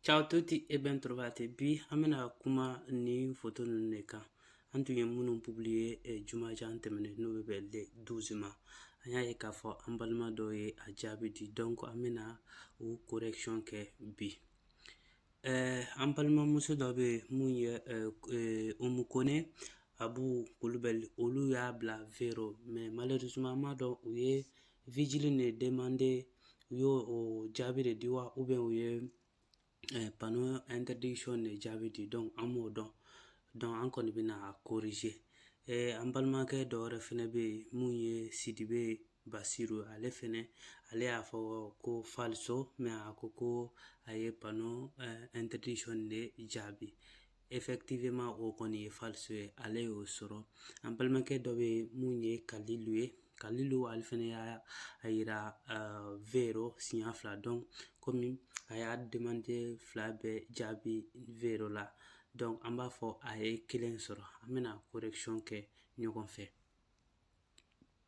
Ciao tutti e ben trovati. Bi an bɛna kuma ni foto ninnu de kan. An tun ye minnu publiye eh, jumajan tɛmɛnen n'o bɛ bɛn le 12 ma. An y'a ye k'a fɔ an balima dɔw ye a jaabi di donc an bɛna o correction kɛ bi. an balimamuso dɔ bɛ yen mun ye Umu Kɔnɛ Abu Kulubali olu y'a bila vero mais malheureusement an m'a dɔn u ye vigile de demande u y'o o jaabi de di wa ou bien u ye panneau interdiction de jaabi di donc an m'o dɔn donc an kɔni bɛna a corriger an balimakɛ dɔ wɛrɛ fɛnɛ bɛ yen mun ye Sidibe Basiru ale fɛnɛ ale y'a fɔ ko falso mais a ko ko a ye panneau interdiction de jaabi effectivement o kɔni ye falso ye ale y'o sɔrɔ an balimakɛ dɔ bɛ mun ye kalilu ye kalilu ale fɛnɛ y'a yira vero siɲɛ fila donc komi a y'a demande fila bɛɛ jaabi vero la donc an b'a fɔ a ye kelen sɔrɔ an bɛna correction kɛ ɲɔgɔn fɛ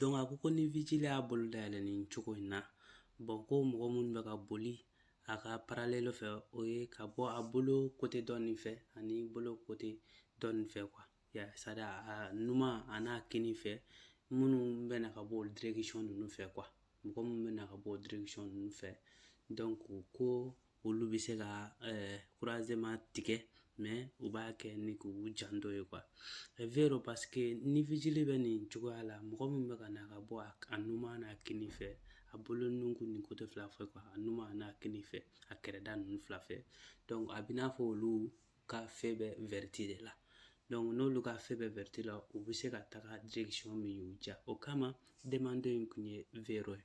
Donc a ko ko ni vigile y'a bolo dayɛlɛ nin cogo in na bon ko mɔgɔ minnu bɛ ka boli a ka parallèle fɛ o ye ka bɔ a bolo côté dɔ nin fɛ ani bolo côté dɔ nin fɛ quoi c'est-à-dire a numan an'a kini fɛ minnu bɛ na ka bɔ o direction ninnu fɛ quoi mɔgɔ minnu bɛ na ka bɔ o direction ninnu fɛ donc ko ko olu bɛ se ka croisement tigɛ mais u b'a kɛ ni k'u janto ye quoi vero parce que ni vigile bɛ nin cogoya la mɔgɔ min bɛ ka na ka bɔ a numan n'a kini fɛ a bolo nun ni côté fila fɛ quoi a numan n'a kini fɛ a kɛrɛda ninnu fila fɛ donc a bɛ n'a fɔ olu ka feu bɛ verde de la donc n'olu ka feu bɛ verde la u bɛ se ka taga direction min y'u diya o kama demande in tun ye vero ye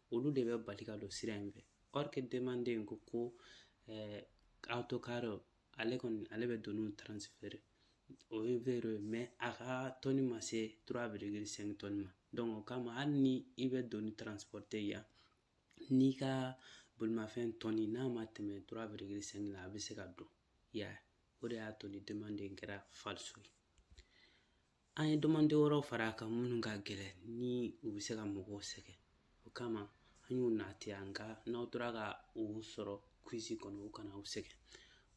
olu de bɛ bali ka don sira in fɛ or que demande in ko eh, autocarro ale kɔni ale bɛ doniw transférer o ye vero ye mais a ka tɔni ma se 3,5 tɔni ma donc o kama hali ni i bɛ doni transporte yan n'i ka bolimafɛn tɔni n'a ma tɛmɛ 3,5 la a bɛ se ka don yan o de y'a to ni demande in kɛra falso ye An ye domande wɛrɛw fara a kan minnu ka gɛlɛn ni u bɛ se ka mɔgɔw sɛgɛn o kama an y'u nati yan ka n'aw tora ka u sɔrɔ quiz kɔnɔ u kana aw sɛgɛn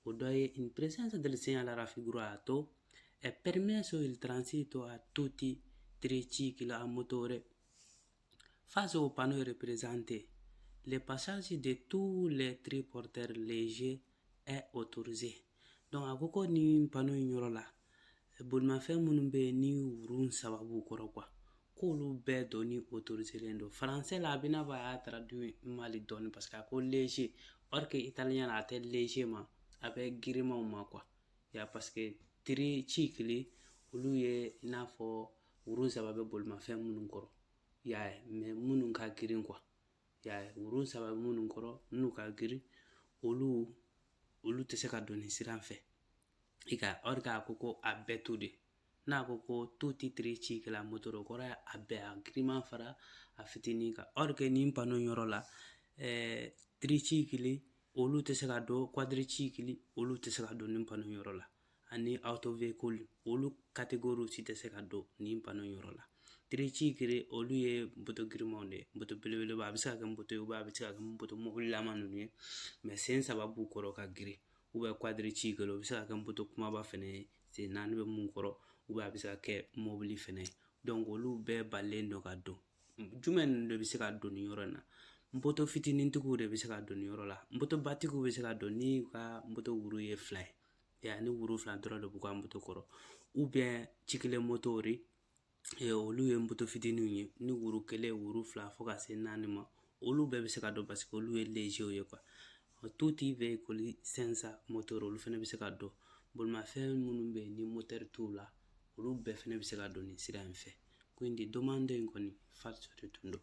o dɔ ye in presenza del segnale raffigurato è permesso il transito a tutti i tricicli a motore Face au panneau représenté, le passage de tous les triporteurs légers est autorisé. Donc a ko ko nin panneau in yɔrɔ la bolimafɛn minnu bɛ yen ni wurun saba b'u kɔrɔ quoi k'olu bɛɛ donni autoriselen don français la a bɛ n'a fɔ a y'a traduit mal dɔɔni parce que a ko léger or que italien la a tɛ léger ma a bɛ girimanw ma quoi ya parce que tricicli olu ye i n'a fɔ wurun saba bɛ bolimafɛn minnu kɔrɔ y'a ye mais minnu ka girin quoi y'a ye wurun saba minnu kɔrɔ minnu ka girin olu olu tɛ se ka don nin sira in fɛ i ka or que a ko ko a bɛɛ to de n'a ko ko tutti tricicli a motore kɔrɔ a bɛɛ a giriman fara a fitinin kan or que nin panneau yɔrɔ la ɛɛ tricicli olu tɛ se ka don quadricicli olu tɛ se ka don nin panneau yɔrɔ la ani autoveicoli olu catégorie si tɛ se ka don nin panneau yɔrɔ la tricicli olu ye moto girimanw de ye moto belebeleba a bɛ se ka kɛ moto ye a bɛ se ka kɛ moto mobililama ninnu ye mais sen saba b'u kɔrɔ ka girin ou bien quadricicli o bɛ se ka kɛ moto kumaba fana ye sen naani bɛ min kɔrɔ ou bien a bɛ se ka kɛ mobili fana ye donc olu bɛɛ balilen don ka don jumɛn ninnu de bɛ se ka don nin yɔrɔ in na moto fitinintigiw de bɛ se ka don nin yɔrɔ la moto batigiw bɛ se ka don n'i ka moto wuru ye fila ye ya ni wuru fila dɔrɔn de b'u ka moto kɔrɔ ou bien ciclomotori olu ye moto fitininw ye ni wuru kelen wuru fila fo ka se naani ma olu bɛɛ bɛ se ka don parce que olu ye légerw ye quoi tutti veicoli senza motore olu fana bɛ se ka don bolimafɛn minnu bɛ yen ni motɛri t'u la olu bɛɛ fana bɛ se ka don nin sira in fɛ quindi domanda in kɔni falso de tun don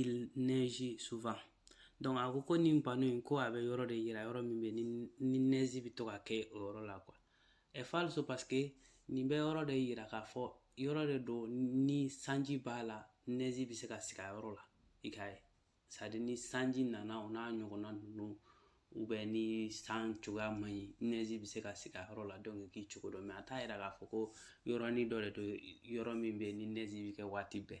il neige souvent donc a ko ko nin panneau in ko a bɛ yɔrɔ de yira yɔrɔ min bɛ ni neige bɛ to ka kɛ o yɔrɔ la quoi è falso parce que nin bɛ yɔrɔ de yira k'a fɔ yɔrɔ de don ni sanji b'a la neige bɛ se ka sigi a yɔrɔ la i k'a ye c'est à dire ni sanji nana o n'a ɲɔgɔnna ninnu ou bien ni san cogoya man ɲi neige bɛ se ka sigi a yɔrɔ la donc k'i cogo dɔn mais a t'a yira k'a fɔ ko yɔrɔnin dɔ de don yɔrɔ min bɛ ni neige bɛ kɛ waati bɛɛ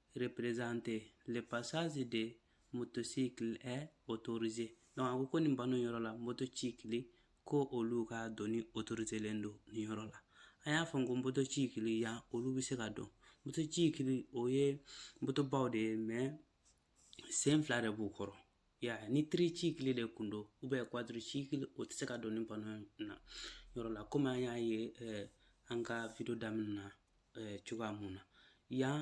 représenté le passage des motocycles est autorisé donc a ko ko nin panneau yɔrɔ la motocicli ko olu ka donni autoriselen don nin yɔrɔ la an y'a fɔ ko motocicli yan olu bɛ se ka don motocicli o ye motobaw de ye mais sen fila de b'u kɔrɔ ya ni tricicli de kun don ou bien quadricicli o tɛ se ka don nin panneau na yɔrɔ la komi an y'a ye eh, an ka video daminɛ na cogoya mun na yan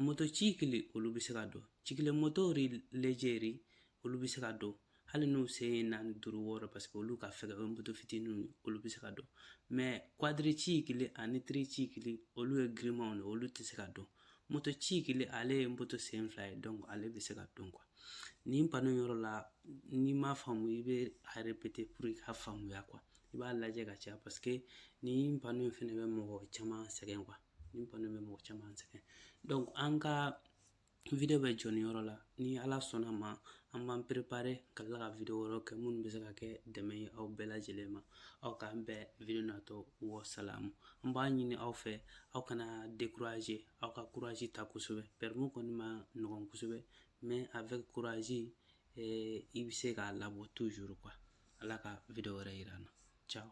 motocycle olu bɛ se ka don cyclomoteur léger olu bɛ se ka don hali n'u sen ye naani duuru wɔɔrɔ parce que olu ka fɛgɛ o ye moto fitininw ye olu bɛ se ka don mais quadricycle ani tricycle olu ye girimanw de olu tɛ se ka don motocycle ale ye moto sen fila ye donc ale bɛ se ka don quoi nin panneau yɔrɔ la n'i m'a faamu i bɛ a répéter pour i ka faamuya quoi i b'a lajɛ ka caya parce que nin panneau in fɛnɛ bɛ mɔgɔ caman sɛgɛn quoi nin panneau in bɛ mɔgɔ caman sɛgɛn donc an ka video bɛ jɔ nin yɔrɔ la ni ala sɔnna ma an b'an préparer ka tila ka video wɛrɛw kɛ minnu bɛ se ka kɛ dɛmɛ ye aw bɛɛ lajɛlen ma aw k'an bɛn video natɔ wasalamu an b'a ɲini aw fɛ aw kana décourager aw ka courage ta kosɛbɛ permis kɔni ma nɔgɔn kosɛbɛ mais avec courage eh, i bɛ se k'a labɔ toujours quoi ala ka video wɛrɛ yira an na ciao